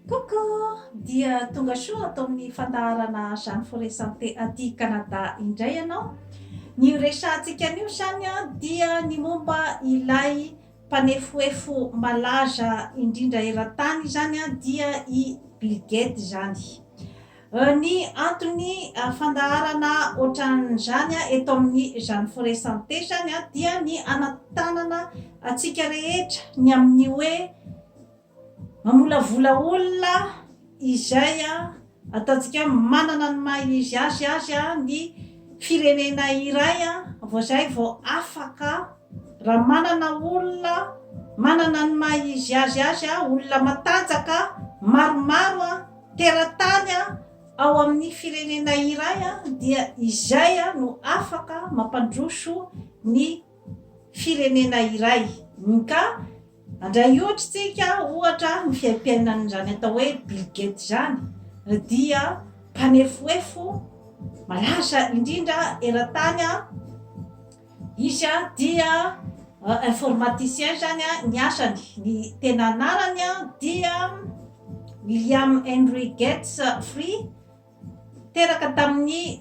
Coucou! Dia tonga soa ato amin'ny fandaharana Jeanne Forêt Santé aty Canada indray ianao. Ny horesahantsika anio izany dia ny momba ilay mpanefoefo malaza indrindra eran-tany izany dia i Bill Gates izany. Ny antony fandaharana ohatran'izany eto amin'ny Jeanne Forêt Santé izany dia ny hanantanana antsika rehetra ny amin'ny hoe Mamolavola olona izay ataontsika hoe manana ny maha izy azy azy ny firenena iray vao izay vao afaka. Raha manana olona manana ny maha izy azy azy, olona matanjaka maromaro teratany ao amin'ny firenena iray dia izay no afaka mampandroso ny firenena iray. Ka Handray ohatra isika, ohatra, ny fiaimpiainan'izany atao hoe Bill Gates izany dia mpanefoefo malaza indrindra eran-tany. Izy dia informaticien izany ny asany. Ny tena anarany dia William Henry Gates Free, teraka tamin'ny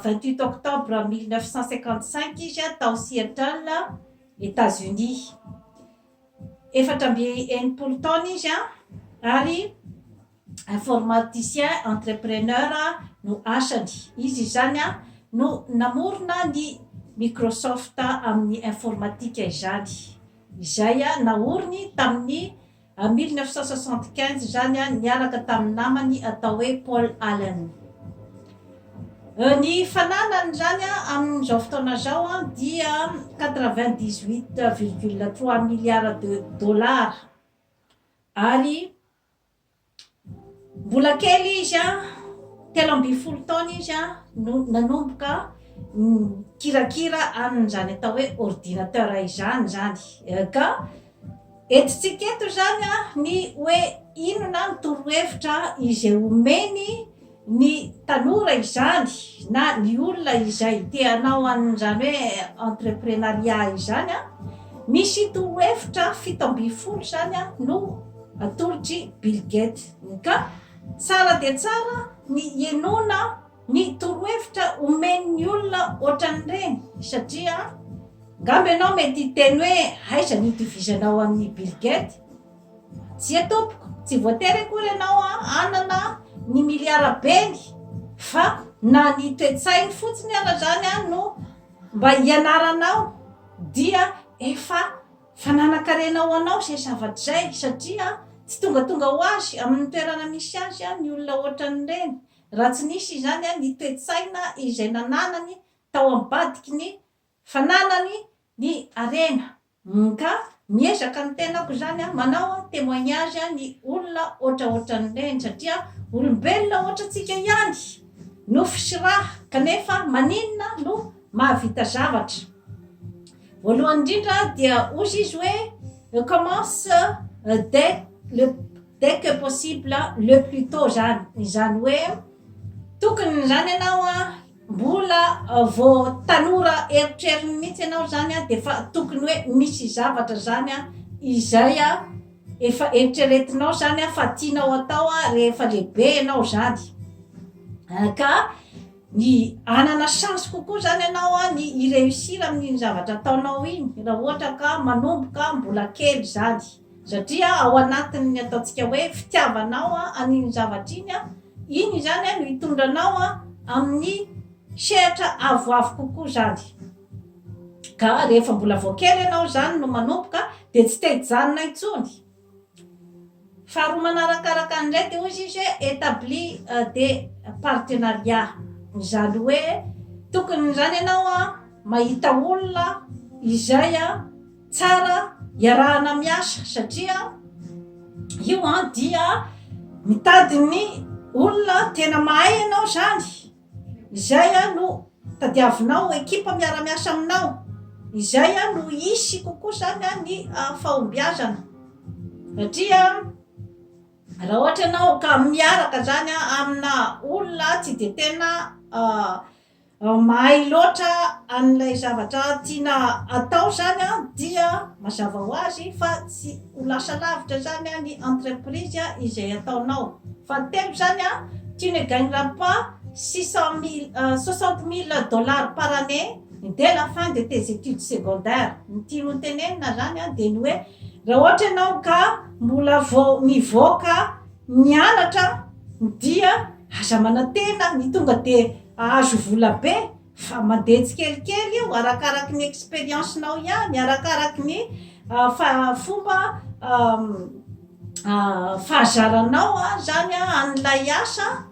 vingt huit octobre mille neuf cent cinquante cinq izy tao Seattle. Etazonia. Efatra amby enimpolo taona izy ary informaticien entrepreneur no asany. Izy izany no namorona ny Microsoft amin'ny informatika izany, izay naoriny tamin'ny Ary mille neuf cent soixante quinze izany an, niaraka tamin'ny namany atao hoe Paul Allen. Ny fananany izany an, amin'izao fotoana izao an, dia quatre vingt dix huit virgule trois milliards de dollars. Ary Mbola kely izy, telo ambin'ny folo taona izy no nanomboka nikirakira an'izany atao hoe ordinateur izany izany. Ka entintsika eto izany ny hoe inona ny torohevitra izay omeny ny tanora izany na ny olona izay te hanao an'izany hoe entreprenariat izany a, misy torohevitra fito ambin'ny folo izany a no atolotry Bill Gates, ka tsara dia tsara ny hinoana ny torohevitra omen'ny olona ohatran'ireny satria angamba ianao mety hiteny hoe aiza ny itovizanao amin'i Bill Gates? Tsia tompoko, tsy voatery akory ianao hanana ny miliara beny fa na ny toe-tsainy fotsiny ara zany no mba hianaranao dia efa fananan-karena ho anao izay zavatra izay satria tsy tongatonga ho azy amin'ny toerana misy azy ny olona ohatran'ireny raha tsy nisy izany ny toe-tsaina izay nananany tao ambadiky ny fananany ny harena. MK, miezaka ny tenako izany an, manao témoignage an ny olona ohatraohatran'ireny satria olombelona ohatrantsika ihany, nofo sy ra, kanefa maninona no mahavita zavatra? Voalohany indrindra dia hozy izy hoe commence dès le dès que possible le plus tot zany, izany hoe tokony izany ianao an, Mbola vao tanora eritreriny mihitsy ianao zany dia efa tokony hoe misy zavatra zany izay efa eritreretinao zany fa tianao atao rehefa lehibe ianao zany ka ny hanana chance kokoa zany ianao ny hi-reussir amin'iny zavatra ataonao iny raha ohatra ka manomboka mbola kely zany. Satria ao anatin'ny ataontsika hoe fitiavanao an'iny zavatra iny, iny izany no hitondra anao amin'ny sehatra avoavo kokoa izany. Ka rehefa mbola vao kely ianao izany no manomboka dia tsy te hijanona intsony. Faharoa manaraka araka an'izay dia hoy izy hoe établi des partenariats. Izany hoe tokony izany ianao mahita olona izay. Tsara iarahana miasa satria io an dia mitady ny olona tena mahay ianao zany izay an no tadiavinao ho ekipa miara-miasa aminao izay an no hisy kokoa zany an ny fahombiazana satria raha ohatra ianao ka miaraka zany an amina olona tsy de tena Raha mahay loatra an'ilay zavatra tiana atao izany dia mazava ho azy fa tsy ho lasa lavitra izany ny entreprise izay ataonao. Fahatelo izany, tu ne gagneras pas six cent mille, soixante mille dollars par année dès la fin de tes études secondaires. Ny tiany ho tenenina izany dia ny hoe raha ohatra ianao ka mbola vao mivoaka nianatra dia. Aza manantena ny tonga dia ahazo vola be fa mandeha tsikelikely io arakaraky ny expérience nao ihany, arakaraky ny fomba fahazaranao izany an'ilay asa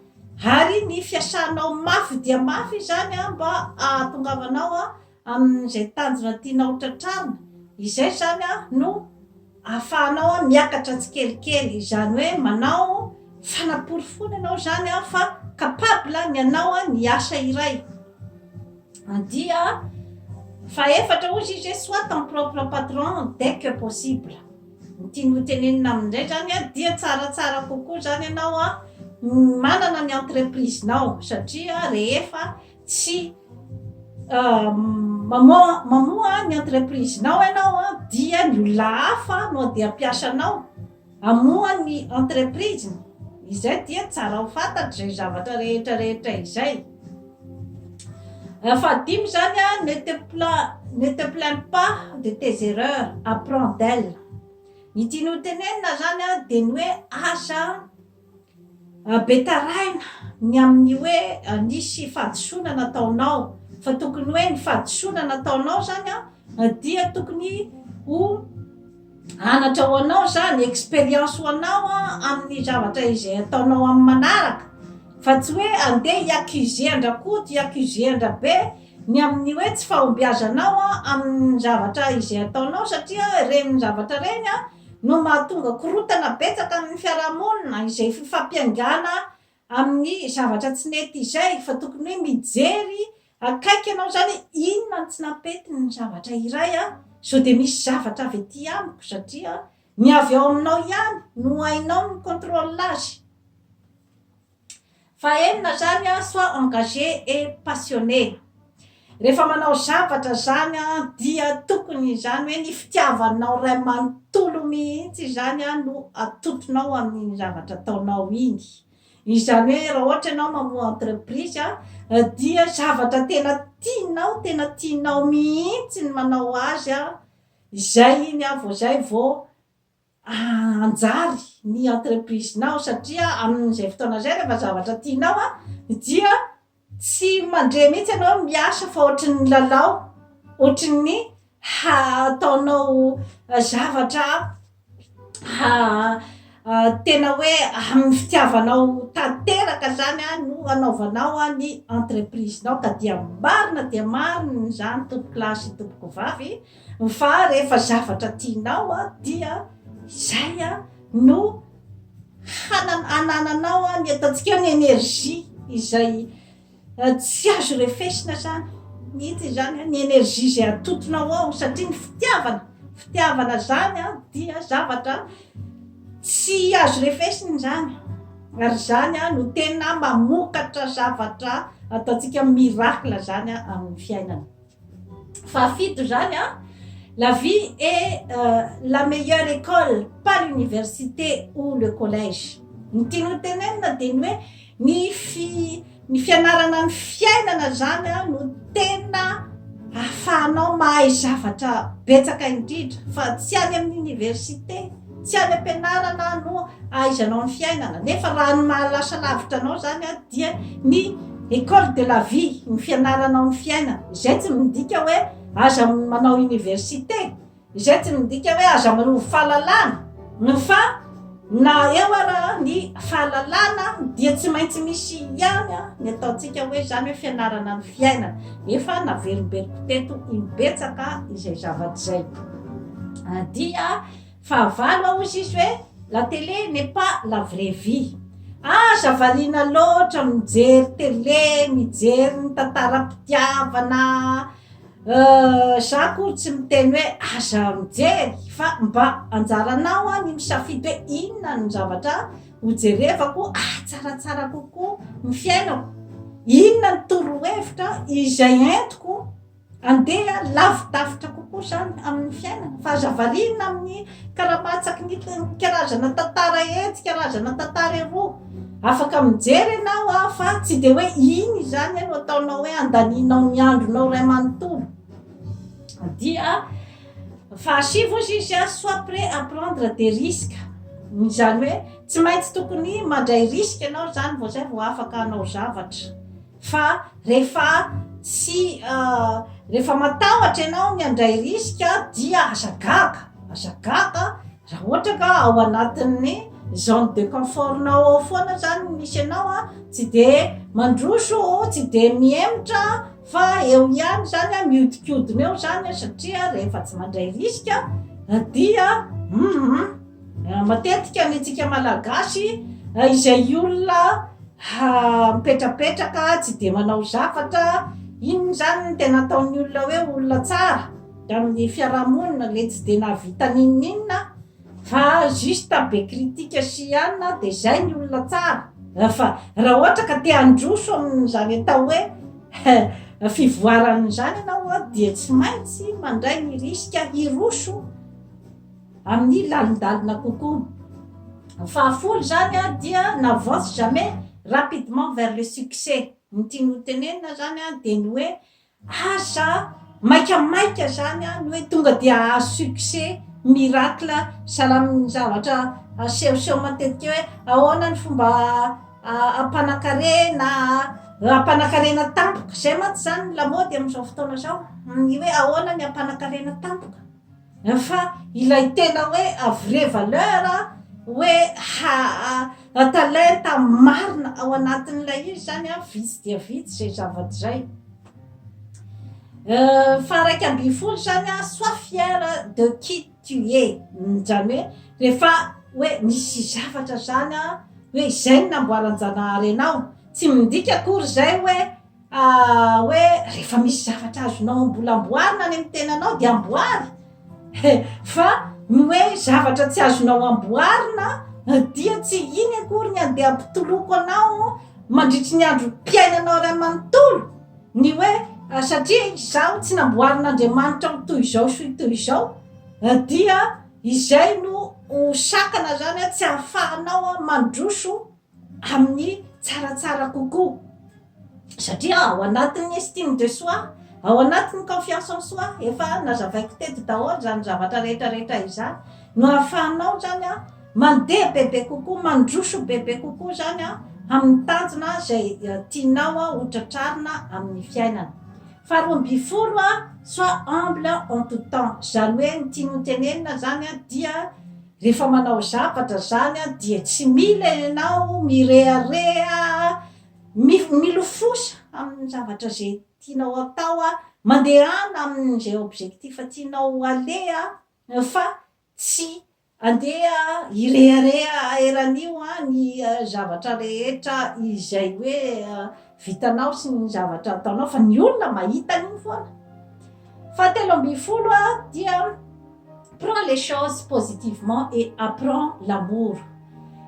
ary ny fiasanao mafy dia mafy izany mba ahatongavanao amin'izay tanjona tianao ho tratrarina, izay izany no ahafahanao miakatra tsikelikely, izany hoe manao fanaporofoana ianao izany fa capable ny hanao ny asa iray, andia fahefatra hozy izy hoe soit ton propre patron dès que possible, ny tiany ho tenenina aminy indray izany dia tsaratsara kokoa izany ianao manana ny entreprise-nao satria rehefa tsy mamoha ny entreprise-nao ianao dia ny olona hafa no andeha hampiasa anao hamoha ny entreprise-ny. Izay dia tsara ho fantatra izay zavatra rehetra rehetra izay. Fahadimy izany a, ne te ne te plains pas de tes erreurs, apprends d'elles. Ny tian'olon-tenenina izany dia ny hoe aza Be tarahina ny amin'ny hoe nisy fahadisoana nataonao, fa tokony hoe ny fahadisoana nataonao zany a dia tokony ho anatra ho anao zany, expérience ho anao a amin'ny zavatra izay ataonao amin'ny manaraka, fa tsy hoe andeha hi accuser an-dRakoto, hi accuser an-dRabe ny amin'ny hoe tsy fahombiazanao amin'ny zavatra izay ataonao satria ireny zavatra ireny a. no mahatonga korontana betsaka amin'ny fiarahamonina izay fifampiaingana amin'ny zavatra tsy nety izay fa tokony hoe mijery akaiky ianao zany inona no tsy nampetin'ny zavatra iray an! sao dia misy zavatra avy aty amiko satria ny avy ao aminao ihany no hainao mi contrôle azy. Fahenina zany a soit engagé et passionné rehefa manao zavatra zany a dia tokony izany hoe ny fitiavanao ray manontolo mihitsy izany a no atotonao amin'iny zavatra ataonao iny izany hoe raha ohatra ianao mamoha entreprise a dia zavatra tena tianao tena tianao mihitsy ny manao azy a izay iny a vao zay vao hanjary ny entreprise-nao satria amin'izay fotoana izay rehefa zavatra tianao dia tsy mandre mihitsy ianao miasa fa ohatrin'ny lalao, ohatrin'ny hataonao zavatra tena hoe amin'ny fitiavanao tanteraka izany no hanaovanao ny entreprise-nao ka dia marina dia marina izany tompokolahy sy tompokovavy a! Fa rehefa zavatra tianao dia izay no hanananao ny atantsika ny energie izay tsy azo refesina zany mihitsy izany ny energie izay atotonao ao satria ny fitiavana fitiavana zany dia zavatra tsy azo refesina izany ary izany no tena mamokatra zavatra ataontsika miracle zany amin'ny fiainana. fahafito zany a la vie est la meilleure école pas l'université ou le collège ny tiany ho tenenina dia ny hoe ny fi ny fianarana ny fiainana zany a no tena ahafahanao mahay zavatra betsaka indrindra fa tsy any amin'ny université Tsy any am-pianarana no ahaizanao ny fiainana, nefa raha ny mahalasa lavitra anao izany dia ny Ecole de la vie, ny fianaranao ny fiainana. Izay tsy midika hoe aza manao université, izay tsy midika hoe aza manovo fahalalana, fa na eo ara ny fahalalana dia tsy maintsy misy ihany ny ataontsika hoe izany hoe fianarana ny fiainana. Efa naverimberiko teto imbetsaka izay zavatra izay dia. Fahavalo ao hozy izy hoe la télé n'est pas la vraie vie. Aza variana loatra mijery télé mijery ny tantaram-pitiavana euh za akory tsy miteny hoe aza mijery fa mba anjaranao an ny misafidy hoe inona no zavatra ho jerevako ahatsaratsara kokoa ny fiainako, inona ny torohevitra izay entiko. Andeha lavidavitra kokoa izany amin'ny fiainana fa aza variana amin'ny karamatsaky ny karazana tantara etsy, karazana tantara eroa. Afaka mijery ianao an, fa tsy dia hoe iny izany no ataonao hoe andanianao ny andronao iray manontolo. Dia fahasivy hozy izy an, soit prêt à prendre des risques. Izany hoe tsy maintsy tokony mandray risque ianao izany vao izay vao afaka hanao zavatra. Fa rehefa tsy rehefa matahotra ianao ny handray risque dia aza gaga, aza gaga raha ohatra ka ao anatin'ny zone de confort-nao ao foana zany no misy anao a, tsy de mandroso, tsy de mihemotra fa eo ihany zany a, mihodinkodina eo zany a, satria rehefa tsy mandray risque dia humm. Matetika ny tsika malagasy izay olona mipetrapetraka tsy dia manao zavatra, inona izany no tena ataon'ny olona hoe olona tsara amin'ny fiarahamonina le tsy dia nahavita n'inon'inona fa juste be critique sy anona de zay ny olona tsara, fa raha ohatra ka te handroso amin'izany atao hoe fivoarana izany ianao dia tsy maintsy mandray ny risque hiroso. amin'ny lalindalina kokoa. Ny fahafolo izany dia n'avance jamais, rapidement vers le succès. Ny tiany ho tenenina izany dia ny hoe asa maikamaika izany ny hoe tonga dia hahazo succès miracle salamin'ny zavatra asehoseho matetika hoe ahoana ny fomba hampanankarena, hampanankarena tampoka. Izay mantsy izany no lamaody amin'izao fotoana izao, ny hoe ahoana ny hampanankarena tampoka. Fa ilay tena hoe à vraie valeur hoe ha talenta marina ao anatin'ilay izy zany an, vitsy dia vitsy izay zavatra izay. Faha iraika ambin'ny folo zany an, soit fière de qui tu es, zany hoe rehefa hoe misy zavatra zany an, hoe izay no namboaran-janahary anao, tsy midika akory izay hoe. hoe rehefa misy zavatra azonao ambola amboarina any amin'ny tenanao dia amboary e fa ny hoe zavatra tsy azonao amboarina dia tsy iny akory ny andeha mpitoloko anao mandritry ny andro mpiainanao ray manontolo ny hoe satria izaho tsy namboarin'andriamanitra ho toy izao sy toy izao dia izay no ho sakana zany a tsy hahafahanao a mandroso amin'ny tsaratsara kokoa satria ao anatin'ny estime de soi, ao anatin'ny confiance en soi, efa nazavaiko teto daholo izany zavatra rehetra rehetra izany, no ahafahanao izany mandeha bebe kokoa, mandroso bebe kokoa izany amin'ny tanjona izay tianao ho tratrarina amin'ny fiainana. Faharoa ambin'ny folo, soit humble en tout temps, izany hoe ny tiany hotenenina izany dia Rehefa manao zavatra zany dia tsy mila ianao mirehareha milofosa amin'ny zavatra izay tianao atao mandehana amin'izay objectif tianao haleha fa tsy andeha hirehareha eran'io ny zavatra rehetra izay hoe vitanao sy ny zavatra ataonao fa ny olona mahita an'iny foana. Fahatelo ambin'ny folo a dia prend les choses positivement et apprend l'amour.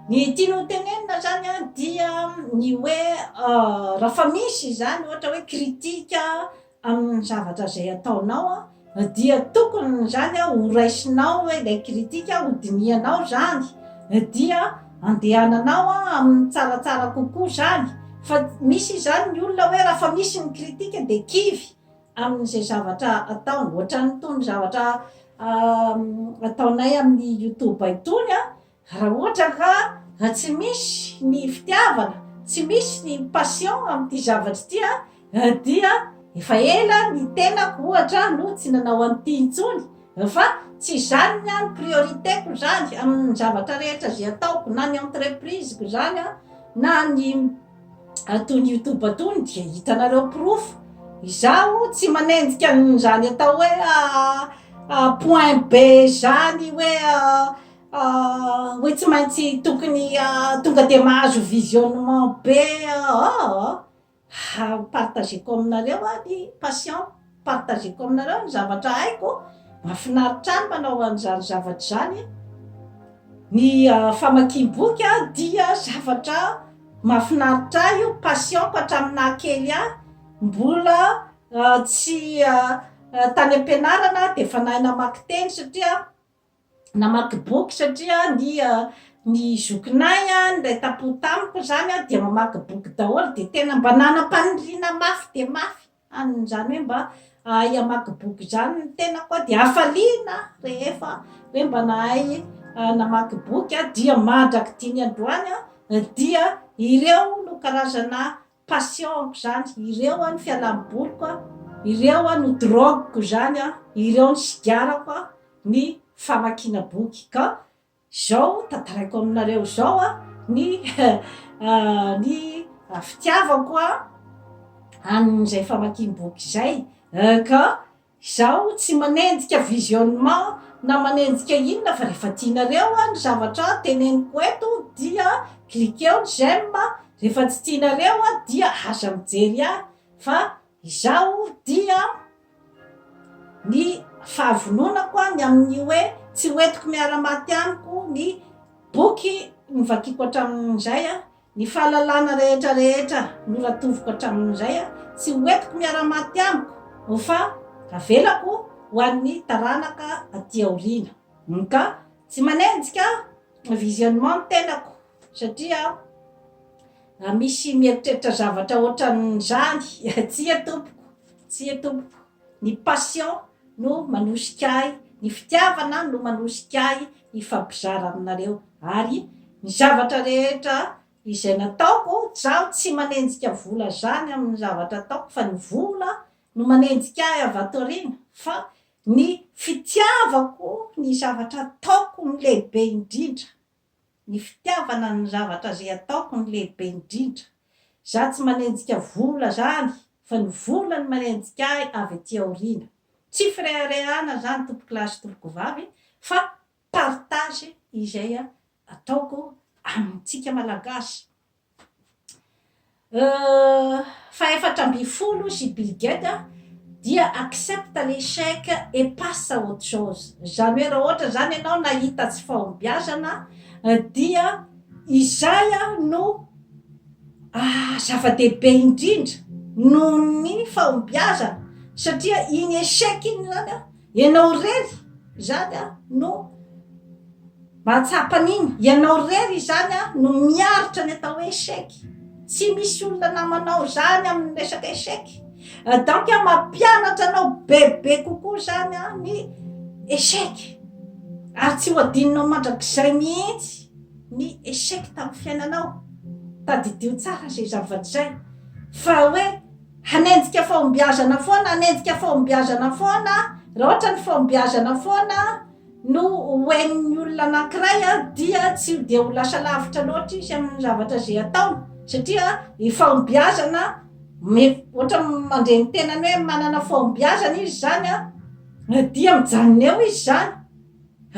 Ny tiany ho tenenina zany a dia ny hoe raha fa misy izany ohatra hoe critique amin'ny zavatra izay ataonao an, dia tokony izany an ho raisinao hoe ilay critique ho dinihanao izany, dia andehananao an amin'ny tsaratsara kokoa izany, fa misy izany ny olona hoe raha fa misy ny critique dia kivy amin'izay zavatra ataony, ohatran'itony zavatra ataonay amin'ny youtube itony an, Raha ohatra ka tsy misy ny fitiavana, tsy misy ny passion amin'ity zavatra ity an, dia efa ela ny tenako ohatra no tsy nanao an'ity intsony, fa tsy izany ny ahy ny priorité-ko izany amin'ny zavatra rehetra izay ataoko, na ny entreprise-ko izany an, na ny itony youtube itony dia hitanareo porofo, izaho tsy manenjika an'izany atao hoe point be izany hoe. Hoy tsy maintsy tokony tonga dia mahazo visionnement be aho ha partageko aminareo aho ny passion partageko aminareo ny zavatra haiko, mahafinaritra ahy ny manao an'izany zavatra izany, ny famakiam-boky dia zavatra mahafinaritra ahy io, passion-ko hatramin'ny naha kely ahy, mbola tsy tany am-pianarana aho dia efa nahay namaky teny satria namaky boky satria ny ny zokinay an, ilay tampo tamiko izany an, dia mamaky boky daholo dia tena mba nanam-paniriana mafy dia mafy an'izany hoe mba hahay hamaky boky izany ny tenako an, dia hafaliana aho rehefa hoe mba nahay namaky boky aho dia mandrak'ity ny androany an dia ireo no karazana Passion ko zany, ireo an fialam boliko an, ireo an no drogue ko zany an, ireo no sigarako an, ny famakiana boky ka zao tantaraiko aminareo zao an ny ny fitiavako an an'izay famakiam boky izay eh ka Izaho tsy manenjika visionnement na manenjika inona fa rehefa tianareo ny zavatra teneniko eto dia cliquer-o ny j'aime, rehefa tsy tianareo dia aza mijery ahy fa izaho dia ny fahavononako ny amin'ny hoe tsy hoentiko miara-maty amiko ny boky novakiako hatramin'izay. Ny fahalalana rehetra rehetra noratoviko hatramin'izay tsy ho entiko miara-maty amiko o fa avelako ho an'ny taranaka aty aoriana o ka tsy manenjika visionnement ny tenako satria raha misy mieritreritra zavatra ohatran'izany tsia tompoko tsia tompoko. Ny passion no manosika ahy, ny fitiavana no manosika ahy hifampizara aminareo ary ny zavatra rehetra izay nataoko, izaho tsy manenjika vola zany amin'ny zavatra ataoko fa ny vola no manenjika ahy avy ato aoriana fa ny fitiavako ny zavatra ataoko no lehibe indrindra Ny fitiavana ny zavatra zay ataoko no lehibe indrindra. Za tsy manenjika vola zany fa ny vola no manenjika ahy avy aty aoriana. Tsy fireharehana zany tompokolahy sy tompokovavy fa partage izay ataoko amintsika malagasy. fahefatra ambin'ny folo sy Bill Gates dia accepte l'échec et passe à autre chose izany hoe raha ohatra izany ianao nahita tsy fahombiazana dia izay no zava-dehibe indrindra noho ny fahombiazana satria iny échec iny izany an Ianao irery izany no mahatsapa an'iny. Ianao irery izany no miaritra ny atao hoe échec. Tsy misy olona namanao izany amin'ny resaka échec. Donc mampianatra anao bebe kokoa izany ny échec. Ary tsy ho adinonao mandrakizay mihitsy ny échec tamin'ny fiainanao. Tadidio tsara izay zavatra izay fa hoe. hanenjika fahombiazana foana, hanenjika fahombiazana foana, raha ohatra ny fahombiazana foana no hoen'ny olona anankiray a, dia tsy dia ho lasa lavitra loatra izy amin'ny zavatra izay ataony, satria ny fahombiazana me- ohatra mandre ny tenany hoe manana fahombiazana izy izany a, dia mijanona eo izy izany.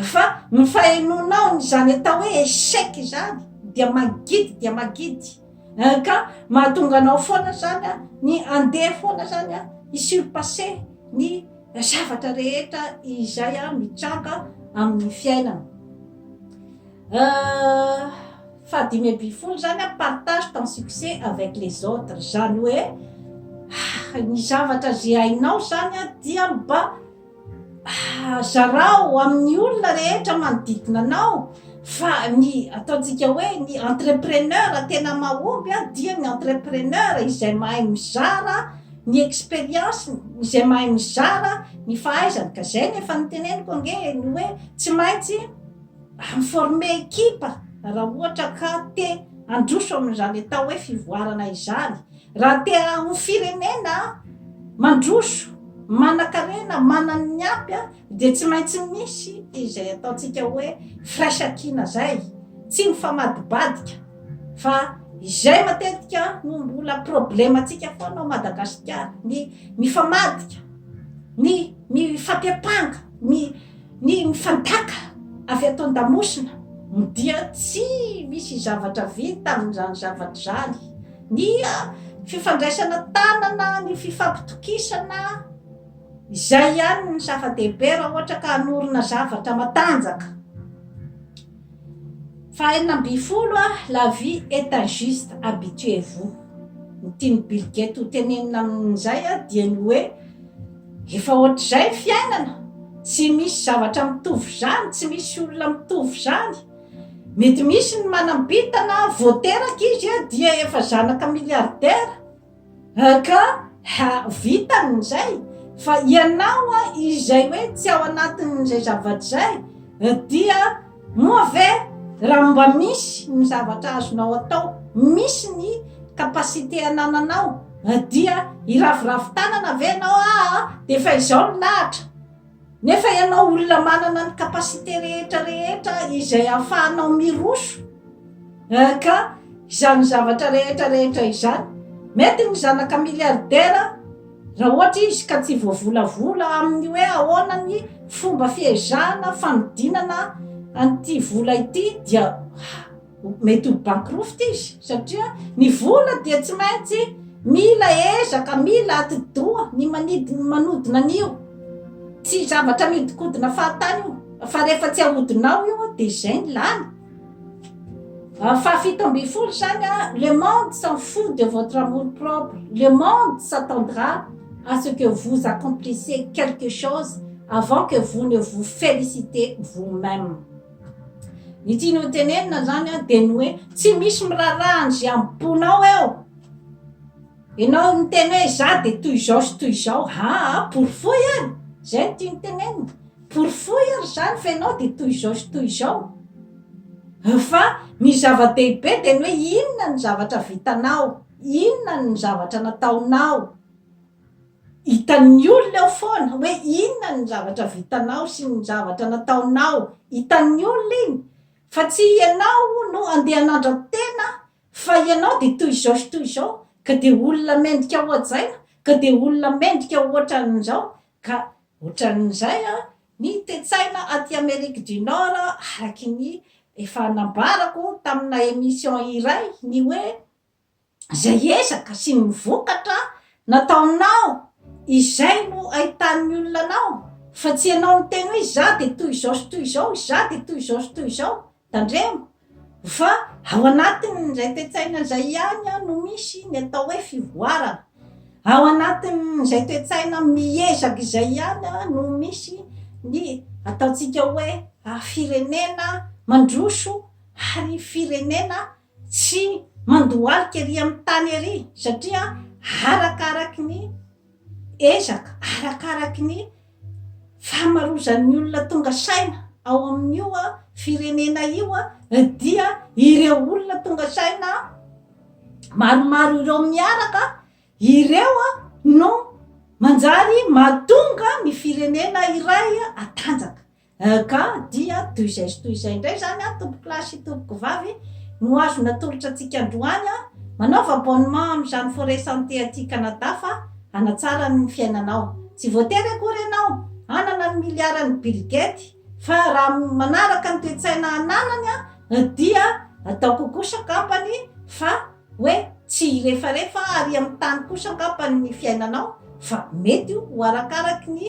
Fa ny fahenoanao ny izany atao hoe échec izany dia mangidy dia mangidy eh, ka mahatonga anao foana izany an, ny handeha foana izany an, hi surpasser ny zavatra rehetra izay an mitranga amin'ny fiainana. Eh, fahadimy ambin'ny folo izany an, partage ton succès avec les autres, izany hoe ah, ny zavatra izay hainao izany an dia mba. Zarao amin'ny olona rehetra manodidina anao fa ny ataontsika hoe ny entrepreneur tena mahomby dia ny entrepreneur izay mahay mizara ny expérience izay mahay mizara ny fahaizany ka zay ny efa niteneniko ange ny hoe tsy maintsy former ekipa raha ohatra ka te handroso amin'izany atao hoe fivoarana izany Raha te ho firenena mandroso, manankarena, manany ny ampy dia tsy maintsy misy izay ataontsika hoe firaisankina izay, tsy mifamadibadika fa izay matetika no mbola problemantsika foana ao Madagasikara, ny mifamadika, ny mifampihapanga, ny ny mifandaka avy ato an-damosina dia tsy misy zavatra vita amin'izany zavatra izany. Ny fifandraisana tanana, ny fifampitokisana, izay ihany no zava-dehibe raha ohatra ka hanorina zavatra matanjaka. Fahenina ambin'ny folo, La vie est injuste, habituez-vous. Ny tian'i Bill Gates ho tenenina amin'izay dia ny hoe efa ohatr'izay ny fiainana, tsy misy zavatra mitovy izany, tsy misy olona mitovy izany. Mety misy ny manam-bintana vao teraka izy a dia efa zanaka milliardaire a ka ha vitany izay fa ianao a izay hoe tsy ao anatin'izay zavatra izay dia moa ve raha mba misy ny zavatra azonao atao misy ny capacité anananao dia hiraviravy tanana ve ianao aa dia efa izao ny lahatra Nefa ianao olona manana ny capacité rehetra rehetra izay ahafahanao miroso eh, ka izany zavatra rehetra rehetra izany. Mety ny zanaka milliardaire raha ohatra izy ka tsy voavolavola amin'ny hoe ahoana ny fomba fiezahana fanodinana an'ity vola ity dia mety ho bankroft izy satria ny vola dia tsy maintsy mila ezaka mila atidoha ny manidy ny manodina an'io tsy zavatra miodikodina fahatany io fa rehefa tsy ahodinao io dia izay ny lany ah, fahafito ambin'ny folo zany a ah, le monde s'en fout de votre amour propre le monde s'attendra à ce que vous accomplissez quelque chose avant que vous ne vous félicitez vous-même Ny tiany hotenenina izany dia ny hoe tsy misy miraharaha an'izay am-ponao eo. Ianao miteny hoe izaho dia toy izao sy toy izao, aa porofoy ary, izay no tiany tenenina, porofoy ary izany fa ianao dia toy izao sy toy izao. Fa ny zava-dehibe dia ny hoe inona ny zavatra vitanao, inona ny zavatra nataonao. Hitan'ny olona eo foana hoe inona ny zavatra vitanao sy ny zavatra nataonao, hitan'ny olona iny fa tsy ianao no andeha hanandra-tena fa ianao dia toy izao sy toy izao ka dia olona mendrika hohajaina ka dia olona mendrika ho ohatran'izao ka ohatran'izay ny toe-tsaina aty Amerique du Nord araky ny efa nambarako tamina emission iray ny hoe izay ezaka sy ny vokatra nataonao izay no ahitan'ny olona anao fa tsy ianao niteny hoe izaho dia toy izao sy toy izao, izaho dia toy izao sy toy izao, tandremo fa ao anatin'izay toe-tsaina izay ihany no misy ny atao hoe fivoarana, ao anatin'izay toe-tsaina miezaka izay ihany no misy ny ataontsika hoe firenena mandroso ary firenena Tsy mandohalika ery amin'ny tany ery satria arakaraky ny ezaka, arakaraky ny famarozan'ny olona tonga saina ao amin'io firenena io dia ireo olona tonga saina maromaro ireo miaraka ireo no manjary mahatonga ny firenena iray hatanjaka. EK, dia toy izay sy toy izay indray izany an, tompokolahy sy tompokovavy, no azo natolotra antsika androany, manaova abonnement amin'izany Forêt Santé aty Canada fa hanatsara ny fiainanao. Tsy voatery akory ianao hanana ny miliaran'i Bill Gate fa raha manaraka ny toe-tsaina ananany dia ataoko kosa angambany fa hoe tsy hirefarefa ary amin'ny tany kosa angambany ny fiainanao fa mety ho arakaraky ny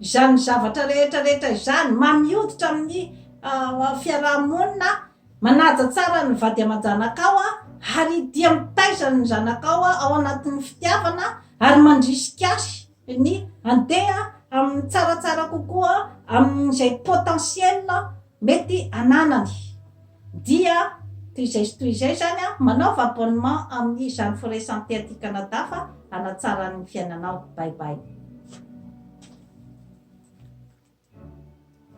Izany zavatra rehetra rehetra izany, mamy hoditra amin'ny fiaraha-monina, manaja tsara ny vady aman-janakao ary dia mitaiza ny zanakao ao anatin'ny fitiavana ary mandrisika azy ny handeha amin'ny tsaratsara kokoa amin'izay potentiel Mety ananany. Dia toy izay sy toy izay izany an, manaova abonnement amin'ny izany frais santé aty Canada fa hanatsara ny fiainanao. Bye bye.